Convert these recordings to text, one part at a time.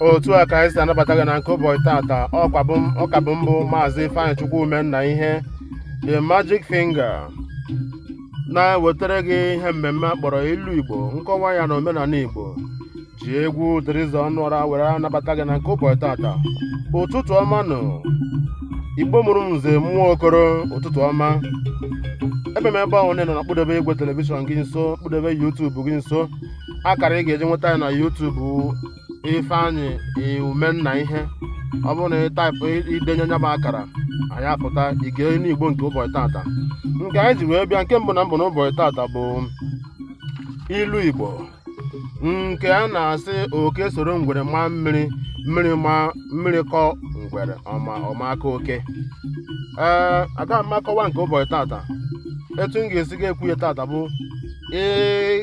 otu a ka anyị si anabata gị na nke ụbọchị tata ọkwa bụ m- ọ ka bụ m bụ maazị ifeanyịchukwu umennaihe the magic finger na-ewetara gị ihe mmemme a kpọrọ ilu igbo nkọwa ya na omenanị igbo ji egwu theresa onuorah were anabata gị na nke ụbọchị tata ụtụtụ ọma nụ igbo mụrụ nze mụọ okoro ụtụtụ ọma ebe m ebe ọbụna ị nọ nọkpudebe igwe telivishọn gị nso kpudebe yutubu gị nso akara ị ga-eji nweta anyị na yutubu ifeanyị umennaihe ọ bụrụ na ị taịpụ ị denye nya bụ akara anyị apụta ị gee inu igbo nke ụbọchị tata nke anyị ji wee bịa nke mbụ na mbụ n'ụbọchị tata bụ ilu igbo nke a na-asị oke soro ngwere maa mmiri mmiri maa mmiri kọọ ngwere ọ ma ọ ma akọ oke ee aga m akọwa nke ụbọchị tata etu m ga-esi ga-ekwu ya tata bụ ị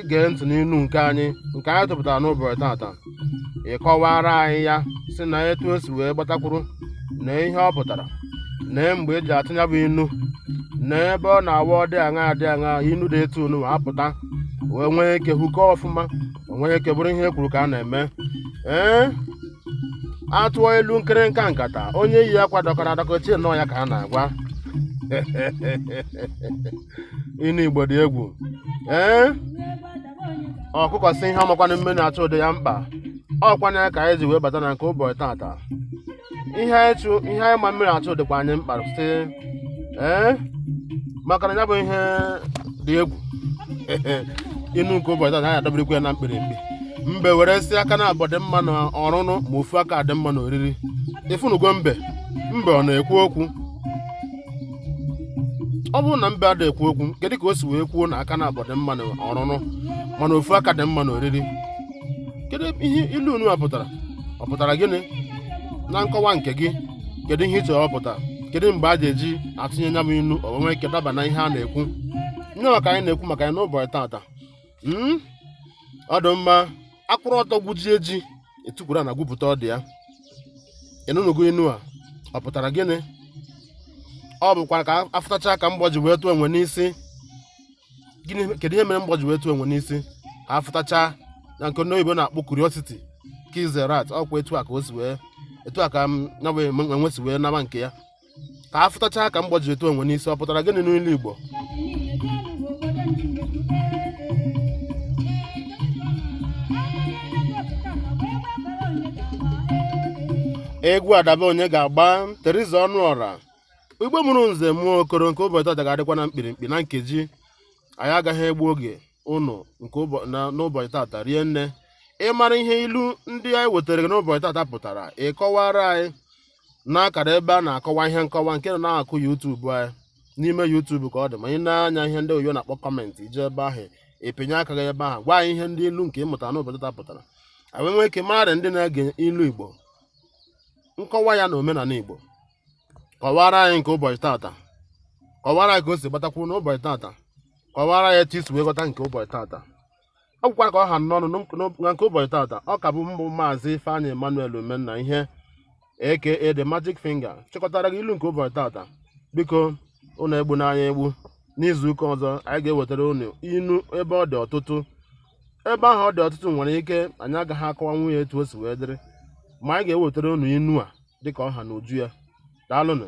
gee ntị n'inu nke anyị nke anyị tụpụtara n'ụbọchị tata ị kọwaara anyị ya sị na etu o si wee gbata kwụrụ na ihe ọ pụtara nee mgbe e ji atụ ya bụ inu nee ebe ọ na-awụ ọ dị aṅaa adị aṅaa inu dị etu nunwa apụta wee nwee ike hụkọ ọfụma o nwee ike bụrụ ihe e kwuru ka a na-eme ee a tụọ ilu nkịrịnka nkata onye yi akwa dọkara adọka o chee na ọ ya ka a na-agwa inu igbo dị egwu ee ọkụkọ sị ihe ọ makwanụ mmiri achọ dị ya mkpa ọkwa nya ka anyị ji wee bata na nke ụbọchị tata ihe anyị chụ ihe anyị ma mmiri achụ dịkwa anyị mkpa sị ee maka na ya bụ ihe dị egwu inu nke ụbọchị tata anyị adọbirikwa ya na mkpirimkpi mbe were sị aka naabọ dị mma na ọrụrụ ma ofu aka dị mma na oriri ị fụnugo mbe mbe ọ na-ekwu okwu ọ bụrụ na mbe ada ekwu okwu kedu ka o si wee kwuo na aka naabọ dị mma na ọrụrụ mana ofu aka dị mma na oriri kedu ihe ilu nunwa pụtara ọ pụtara gịnị na nkọwa nke gị kedu ihe ị chere ọ pụtara kedu mgbe a ga-eji atụnye nya bụ ilu o nwee ike daba na ihe a na-ekwu nya ka anyị na-ekwu maka ya n'ụbọchị tata ọ dị mma a kwụrụ ọtọ gwujie ji e tukwuru ana gwupụta ọdụ ya ị nụnugo inu a ọ pụtara gịnị ọ bụkwa ka a fụtacha ka mgbọ ji wee tụọ enwe n'isi gịnị kedu ihe mere mgbọ ji wee tụọ enwe n'isi ka a fụtacha na nke ndị oyibo na-akpọ curiosity kills the rat ọkwa etu a ka o si wee etu a ka m um, nya bụ enwe si wee naba nke ya ka a fụtachaa ka mgbọ ji etu enwe n'isi ọ pụtara gịnị n'ilu igbo egwu adaba onye ga-agba Theresa Onuorah igbo mụrụ nze mụọ okoro nke ụbọchị tata ga-adịkwa na mkpirikpi na nkeji anyị agaghị egbu oge ụnụ nke ụbọ- na- n'ụbọchị tata rie nne ị mara ihe ilu ndị anyị wetara gị n'ụbọchị tata pụtara ị kọwara anyị n'akara ebe a na-akọwa ihe nkọwa nke nọ n'akụkụ YouTube anyị n'ime YouTube ka ọ dị ma ị na-anya ihe ndị oyibo na-akpọ comment i jee ebe ahụ ị pịnye aka gị ebe ahụ gwa anyị ihe ndị ilu nke ị mụta n'ụbọchị taa pụtara anyị nwee ike mara ndị na-ege ilu igbo nkọwa ya na omenala igbo kọwara anyị nke ụbọchị tata kọwara anyị ka o si gbata kwụrụ n'ụbọchị tata kọwara ya etu i si wee ghọta nke ụbọchị tata ọ gwụkwara ka ọ ha m n'ọnụ na nke ụbọchị tata ọ ka bụ m bụ maazị Ifeanyi Emmanuel Umennaihe aka the magic finger chịkọtara gị ilu nke ụbọchị tata biko ụnụ egbuna anyị egbu n'izu ụka ọzọ anyị ga-ewetara ụnụ inu ebe ọ dị ọtụtụ ebe ahụ ọ dị ọtụtụ nwere ike anyị agaghị akọwanwu ya etu o si wee dịrị ma anyị ga-ewetara ụnụ inu a dịka ọ ha n'uju ya daalụnụ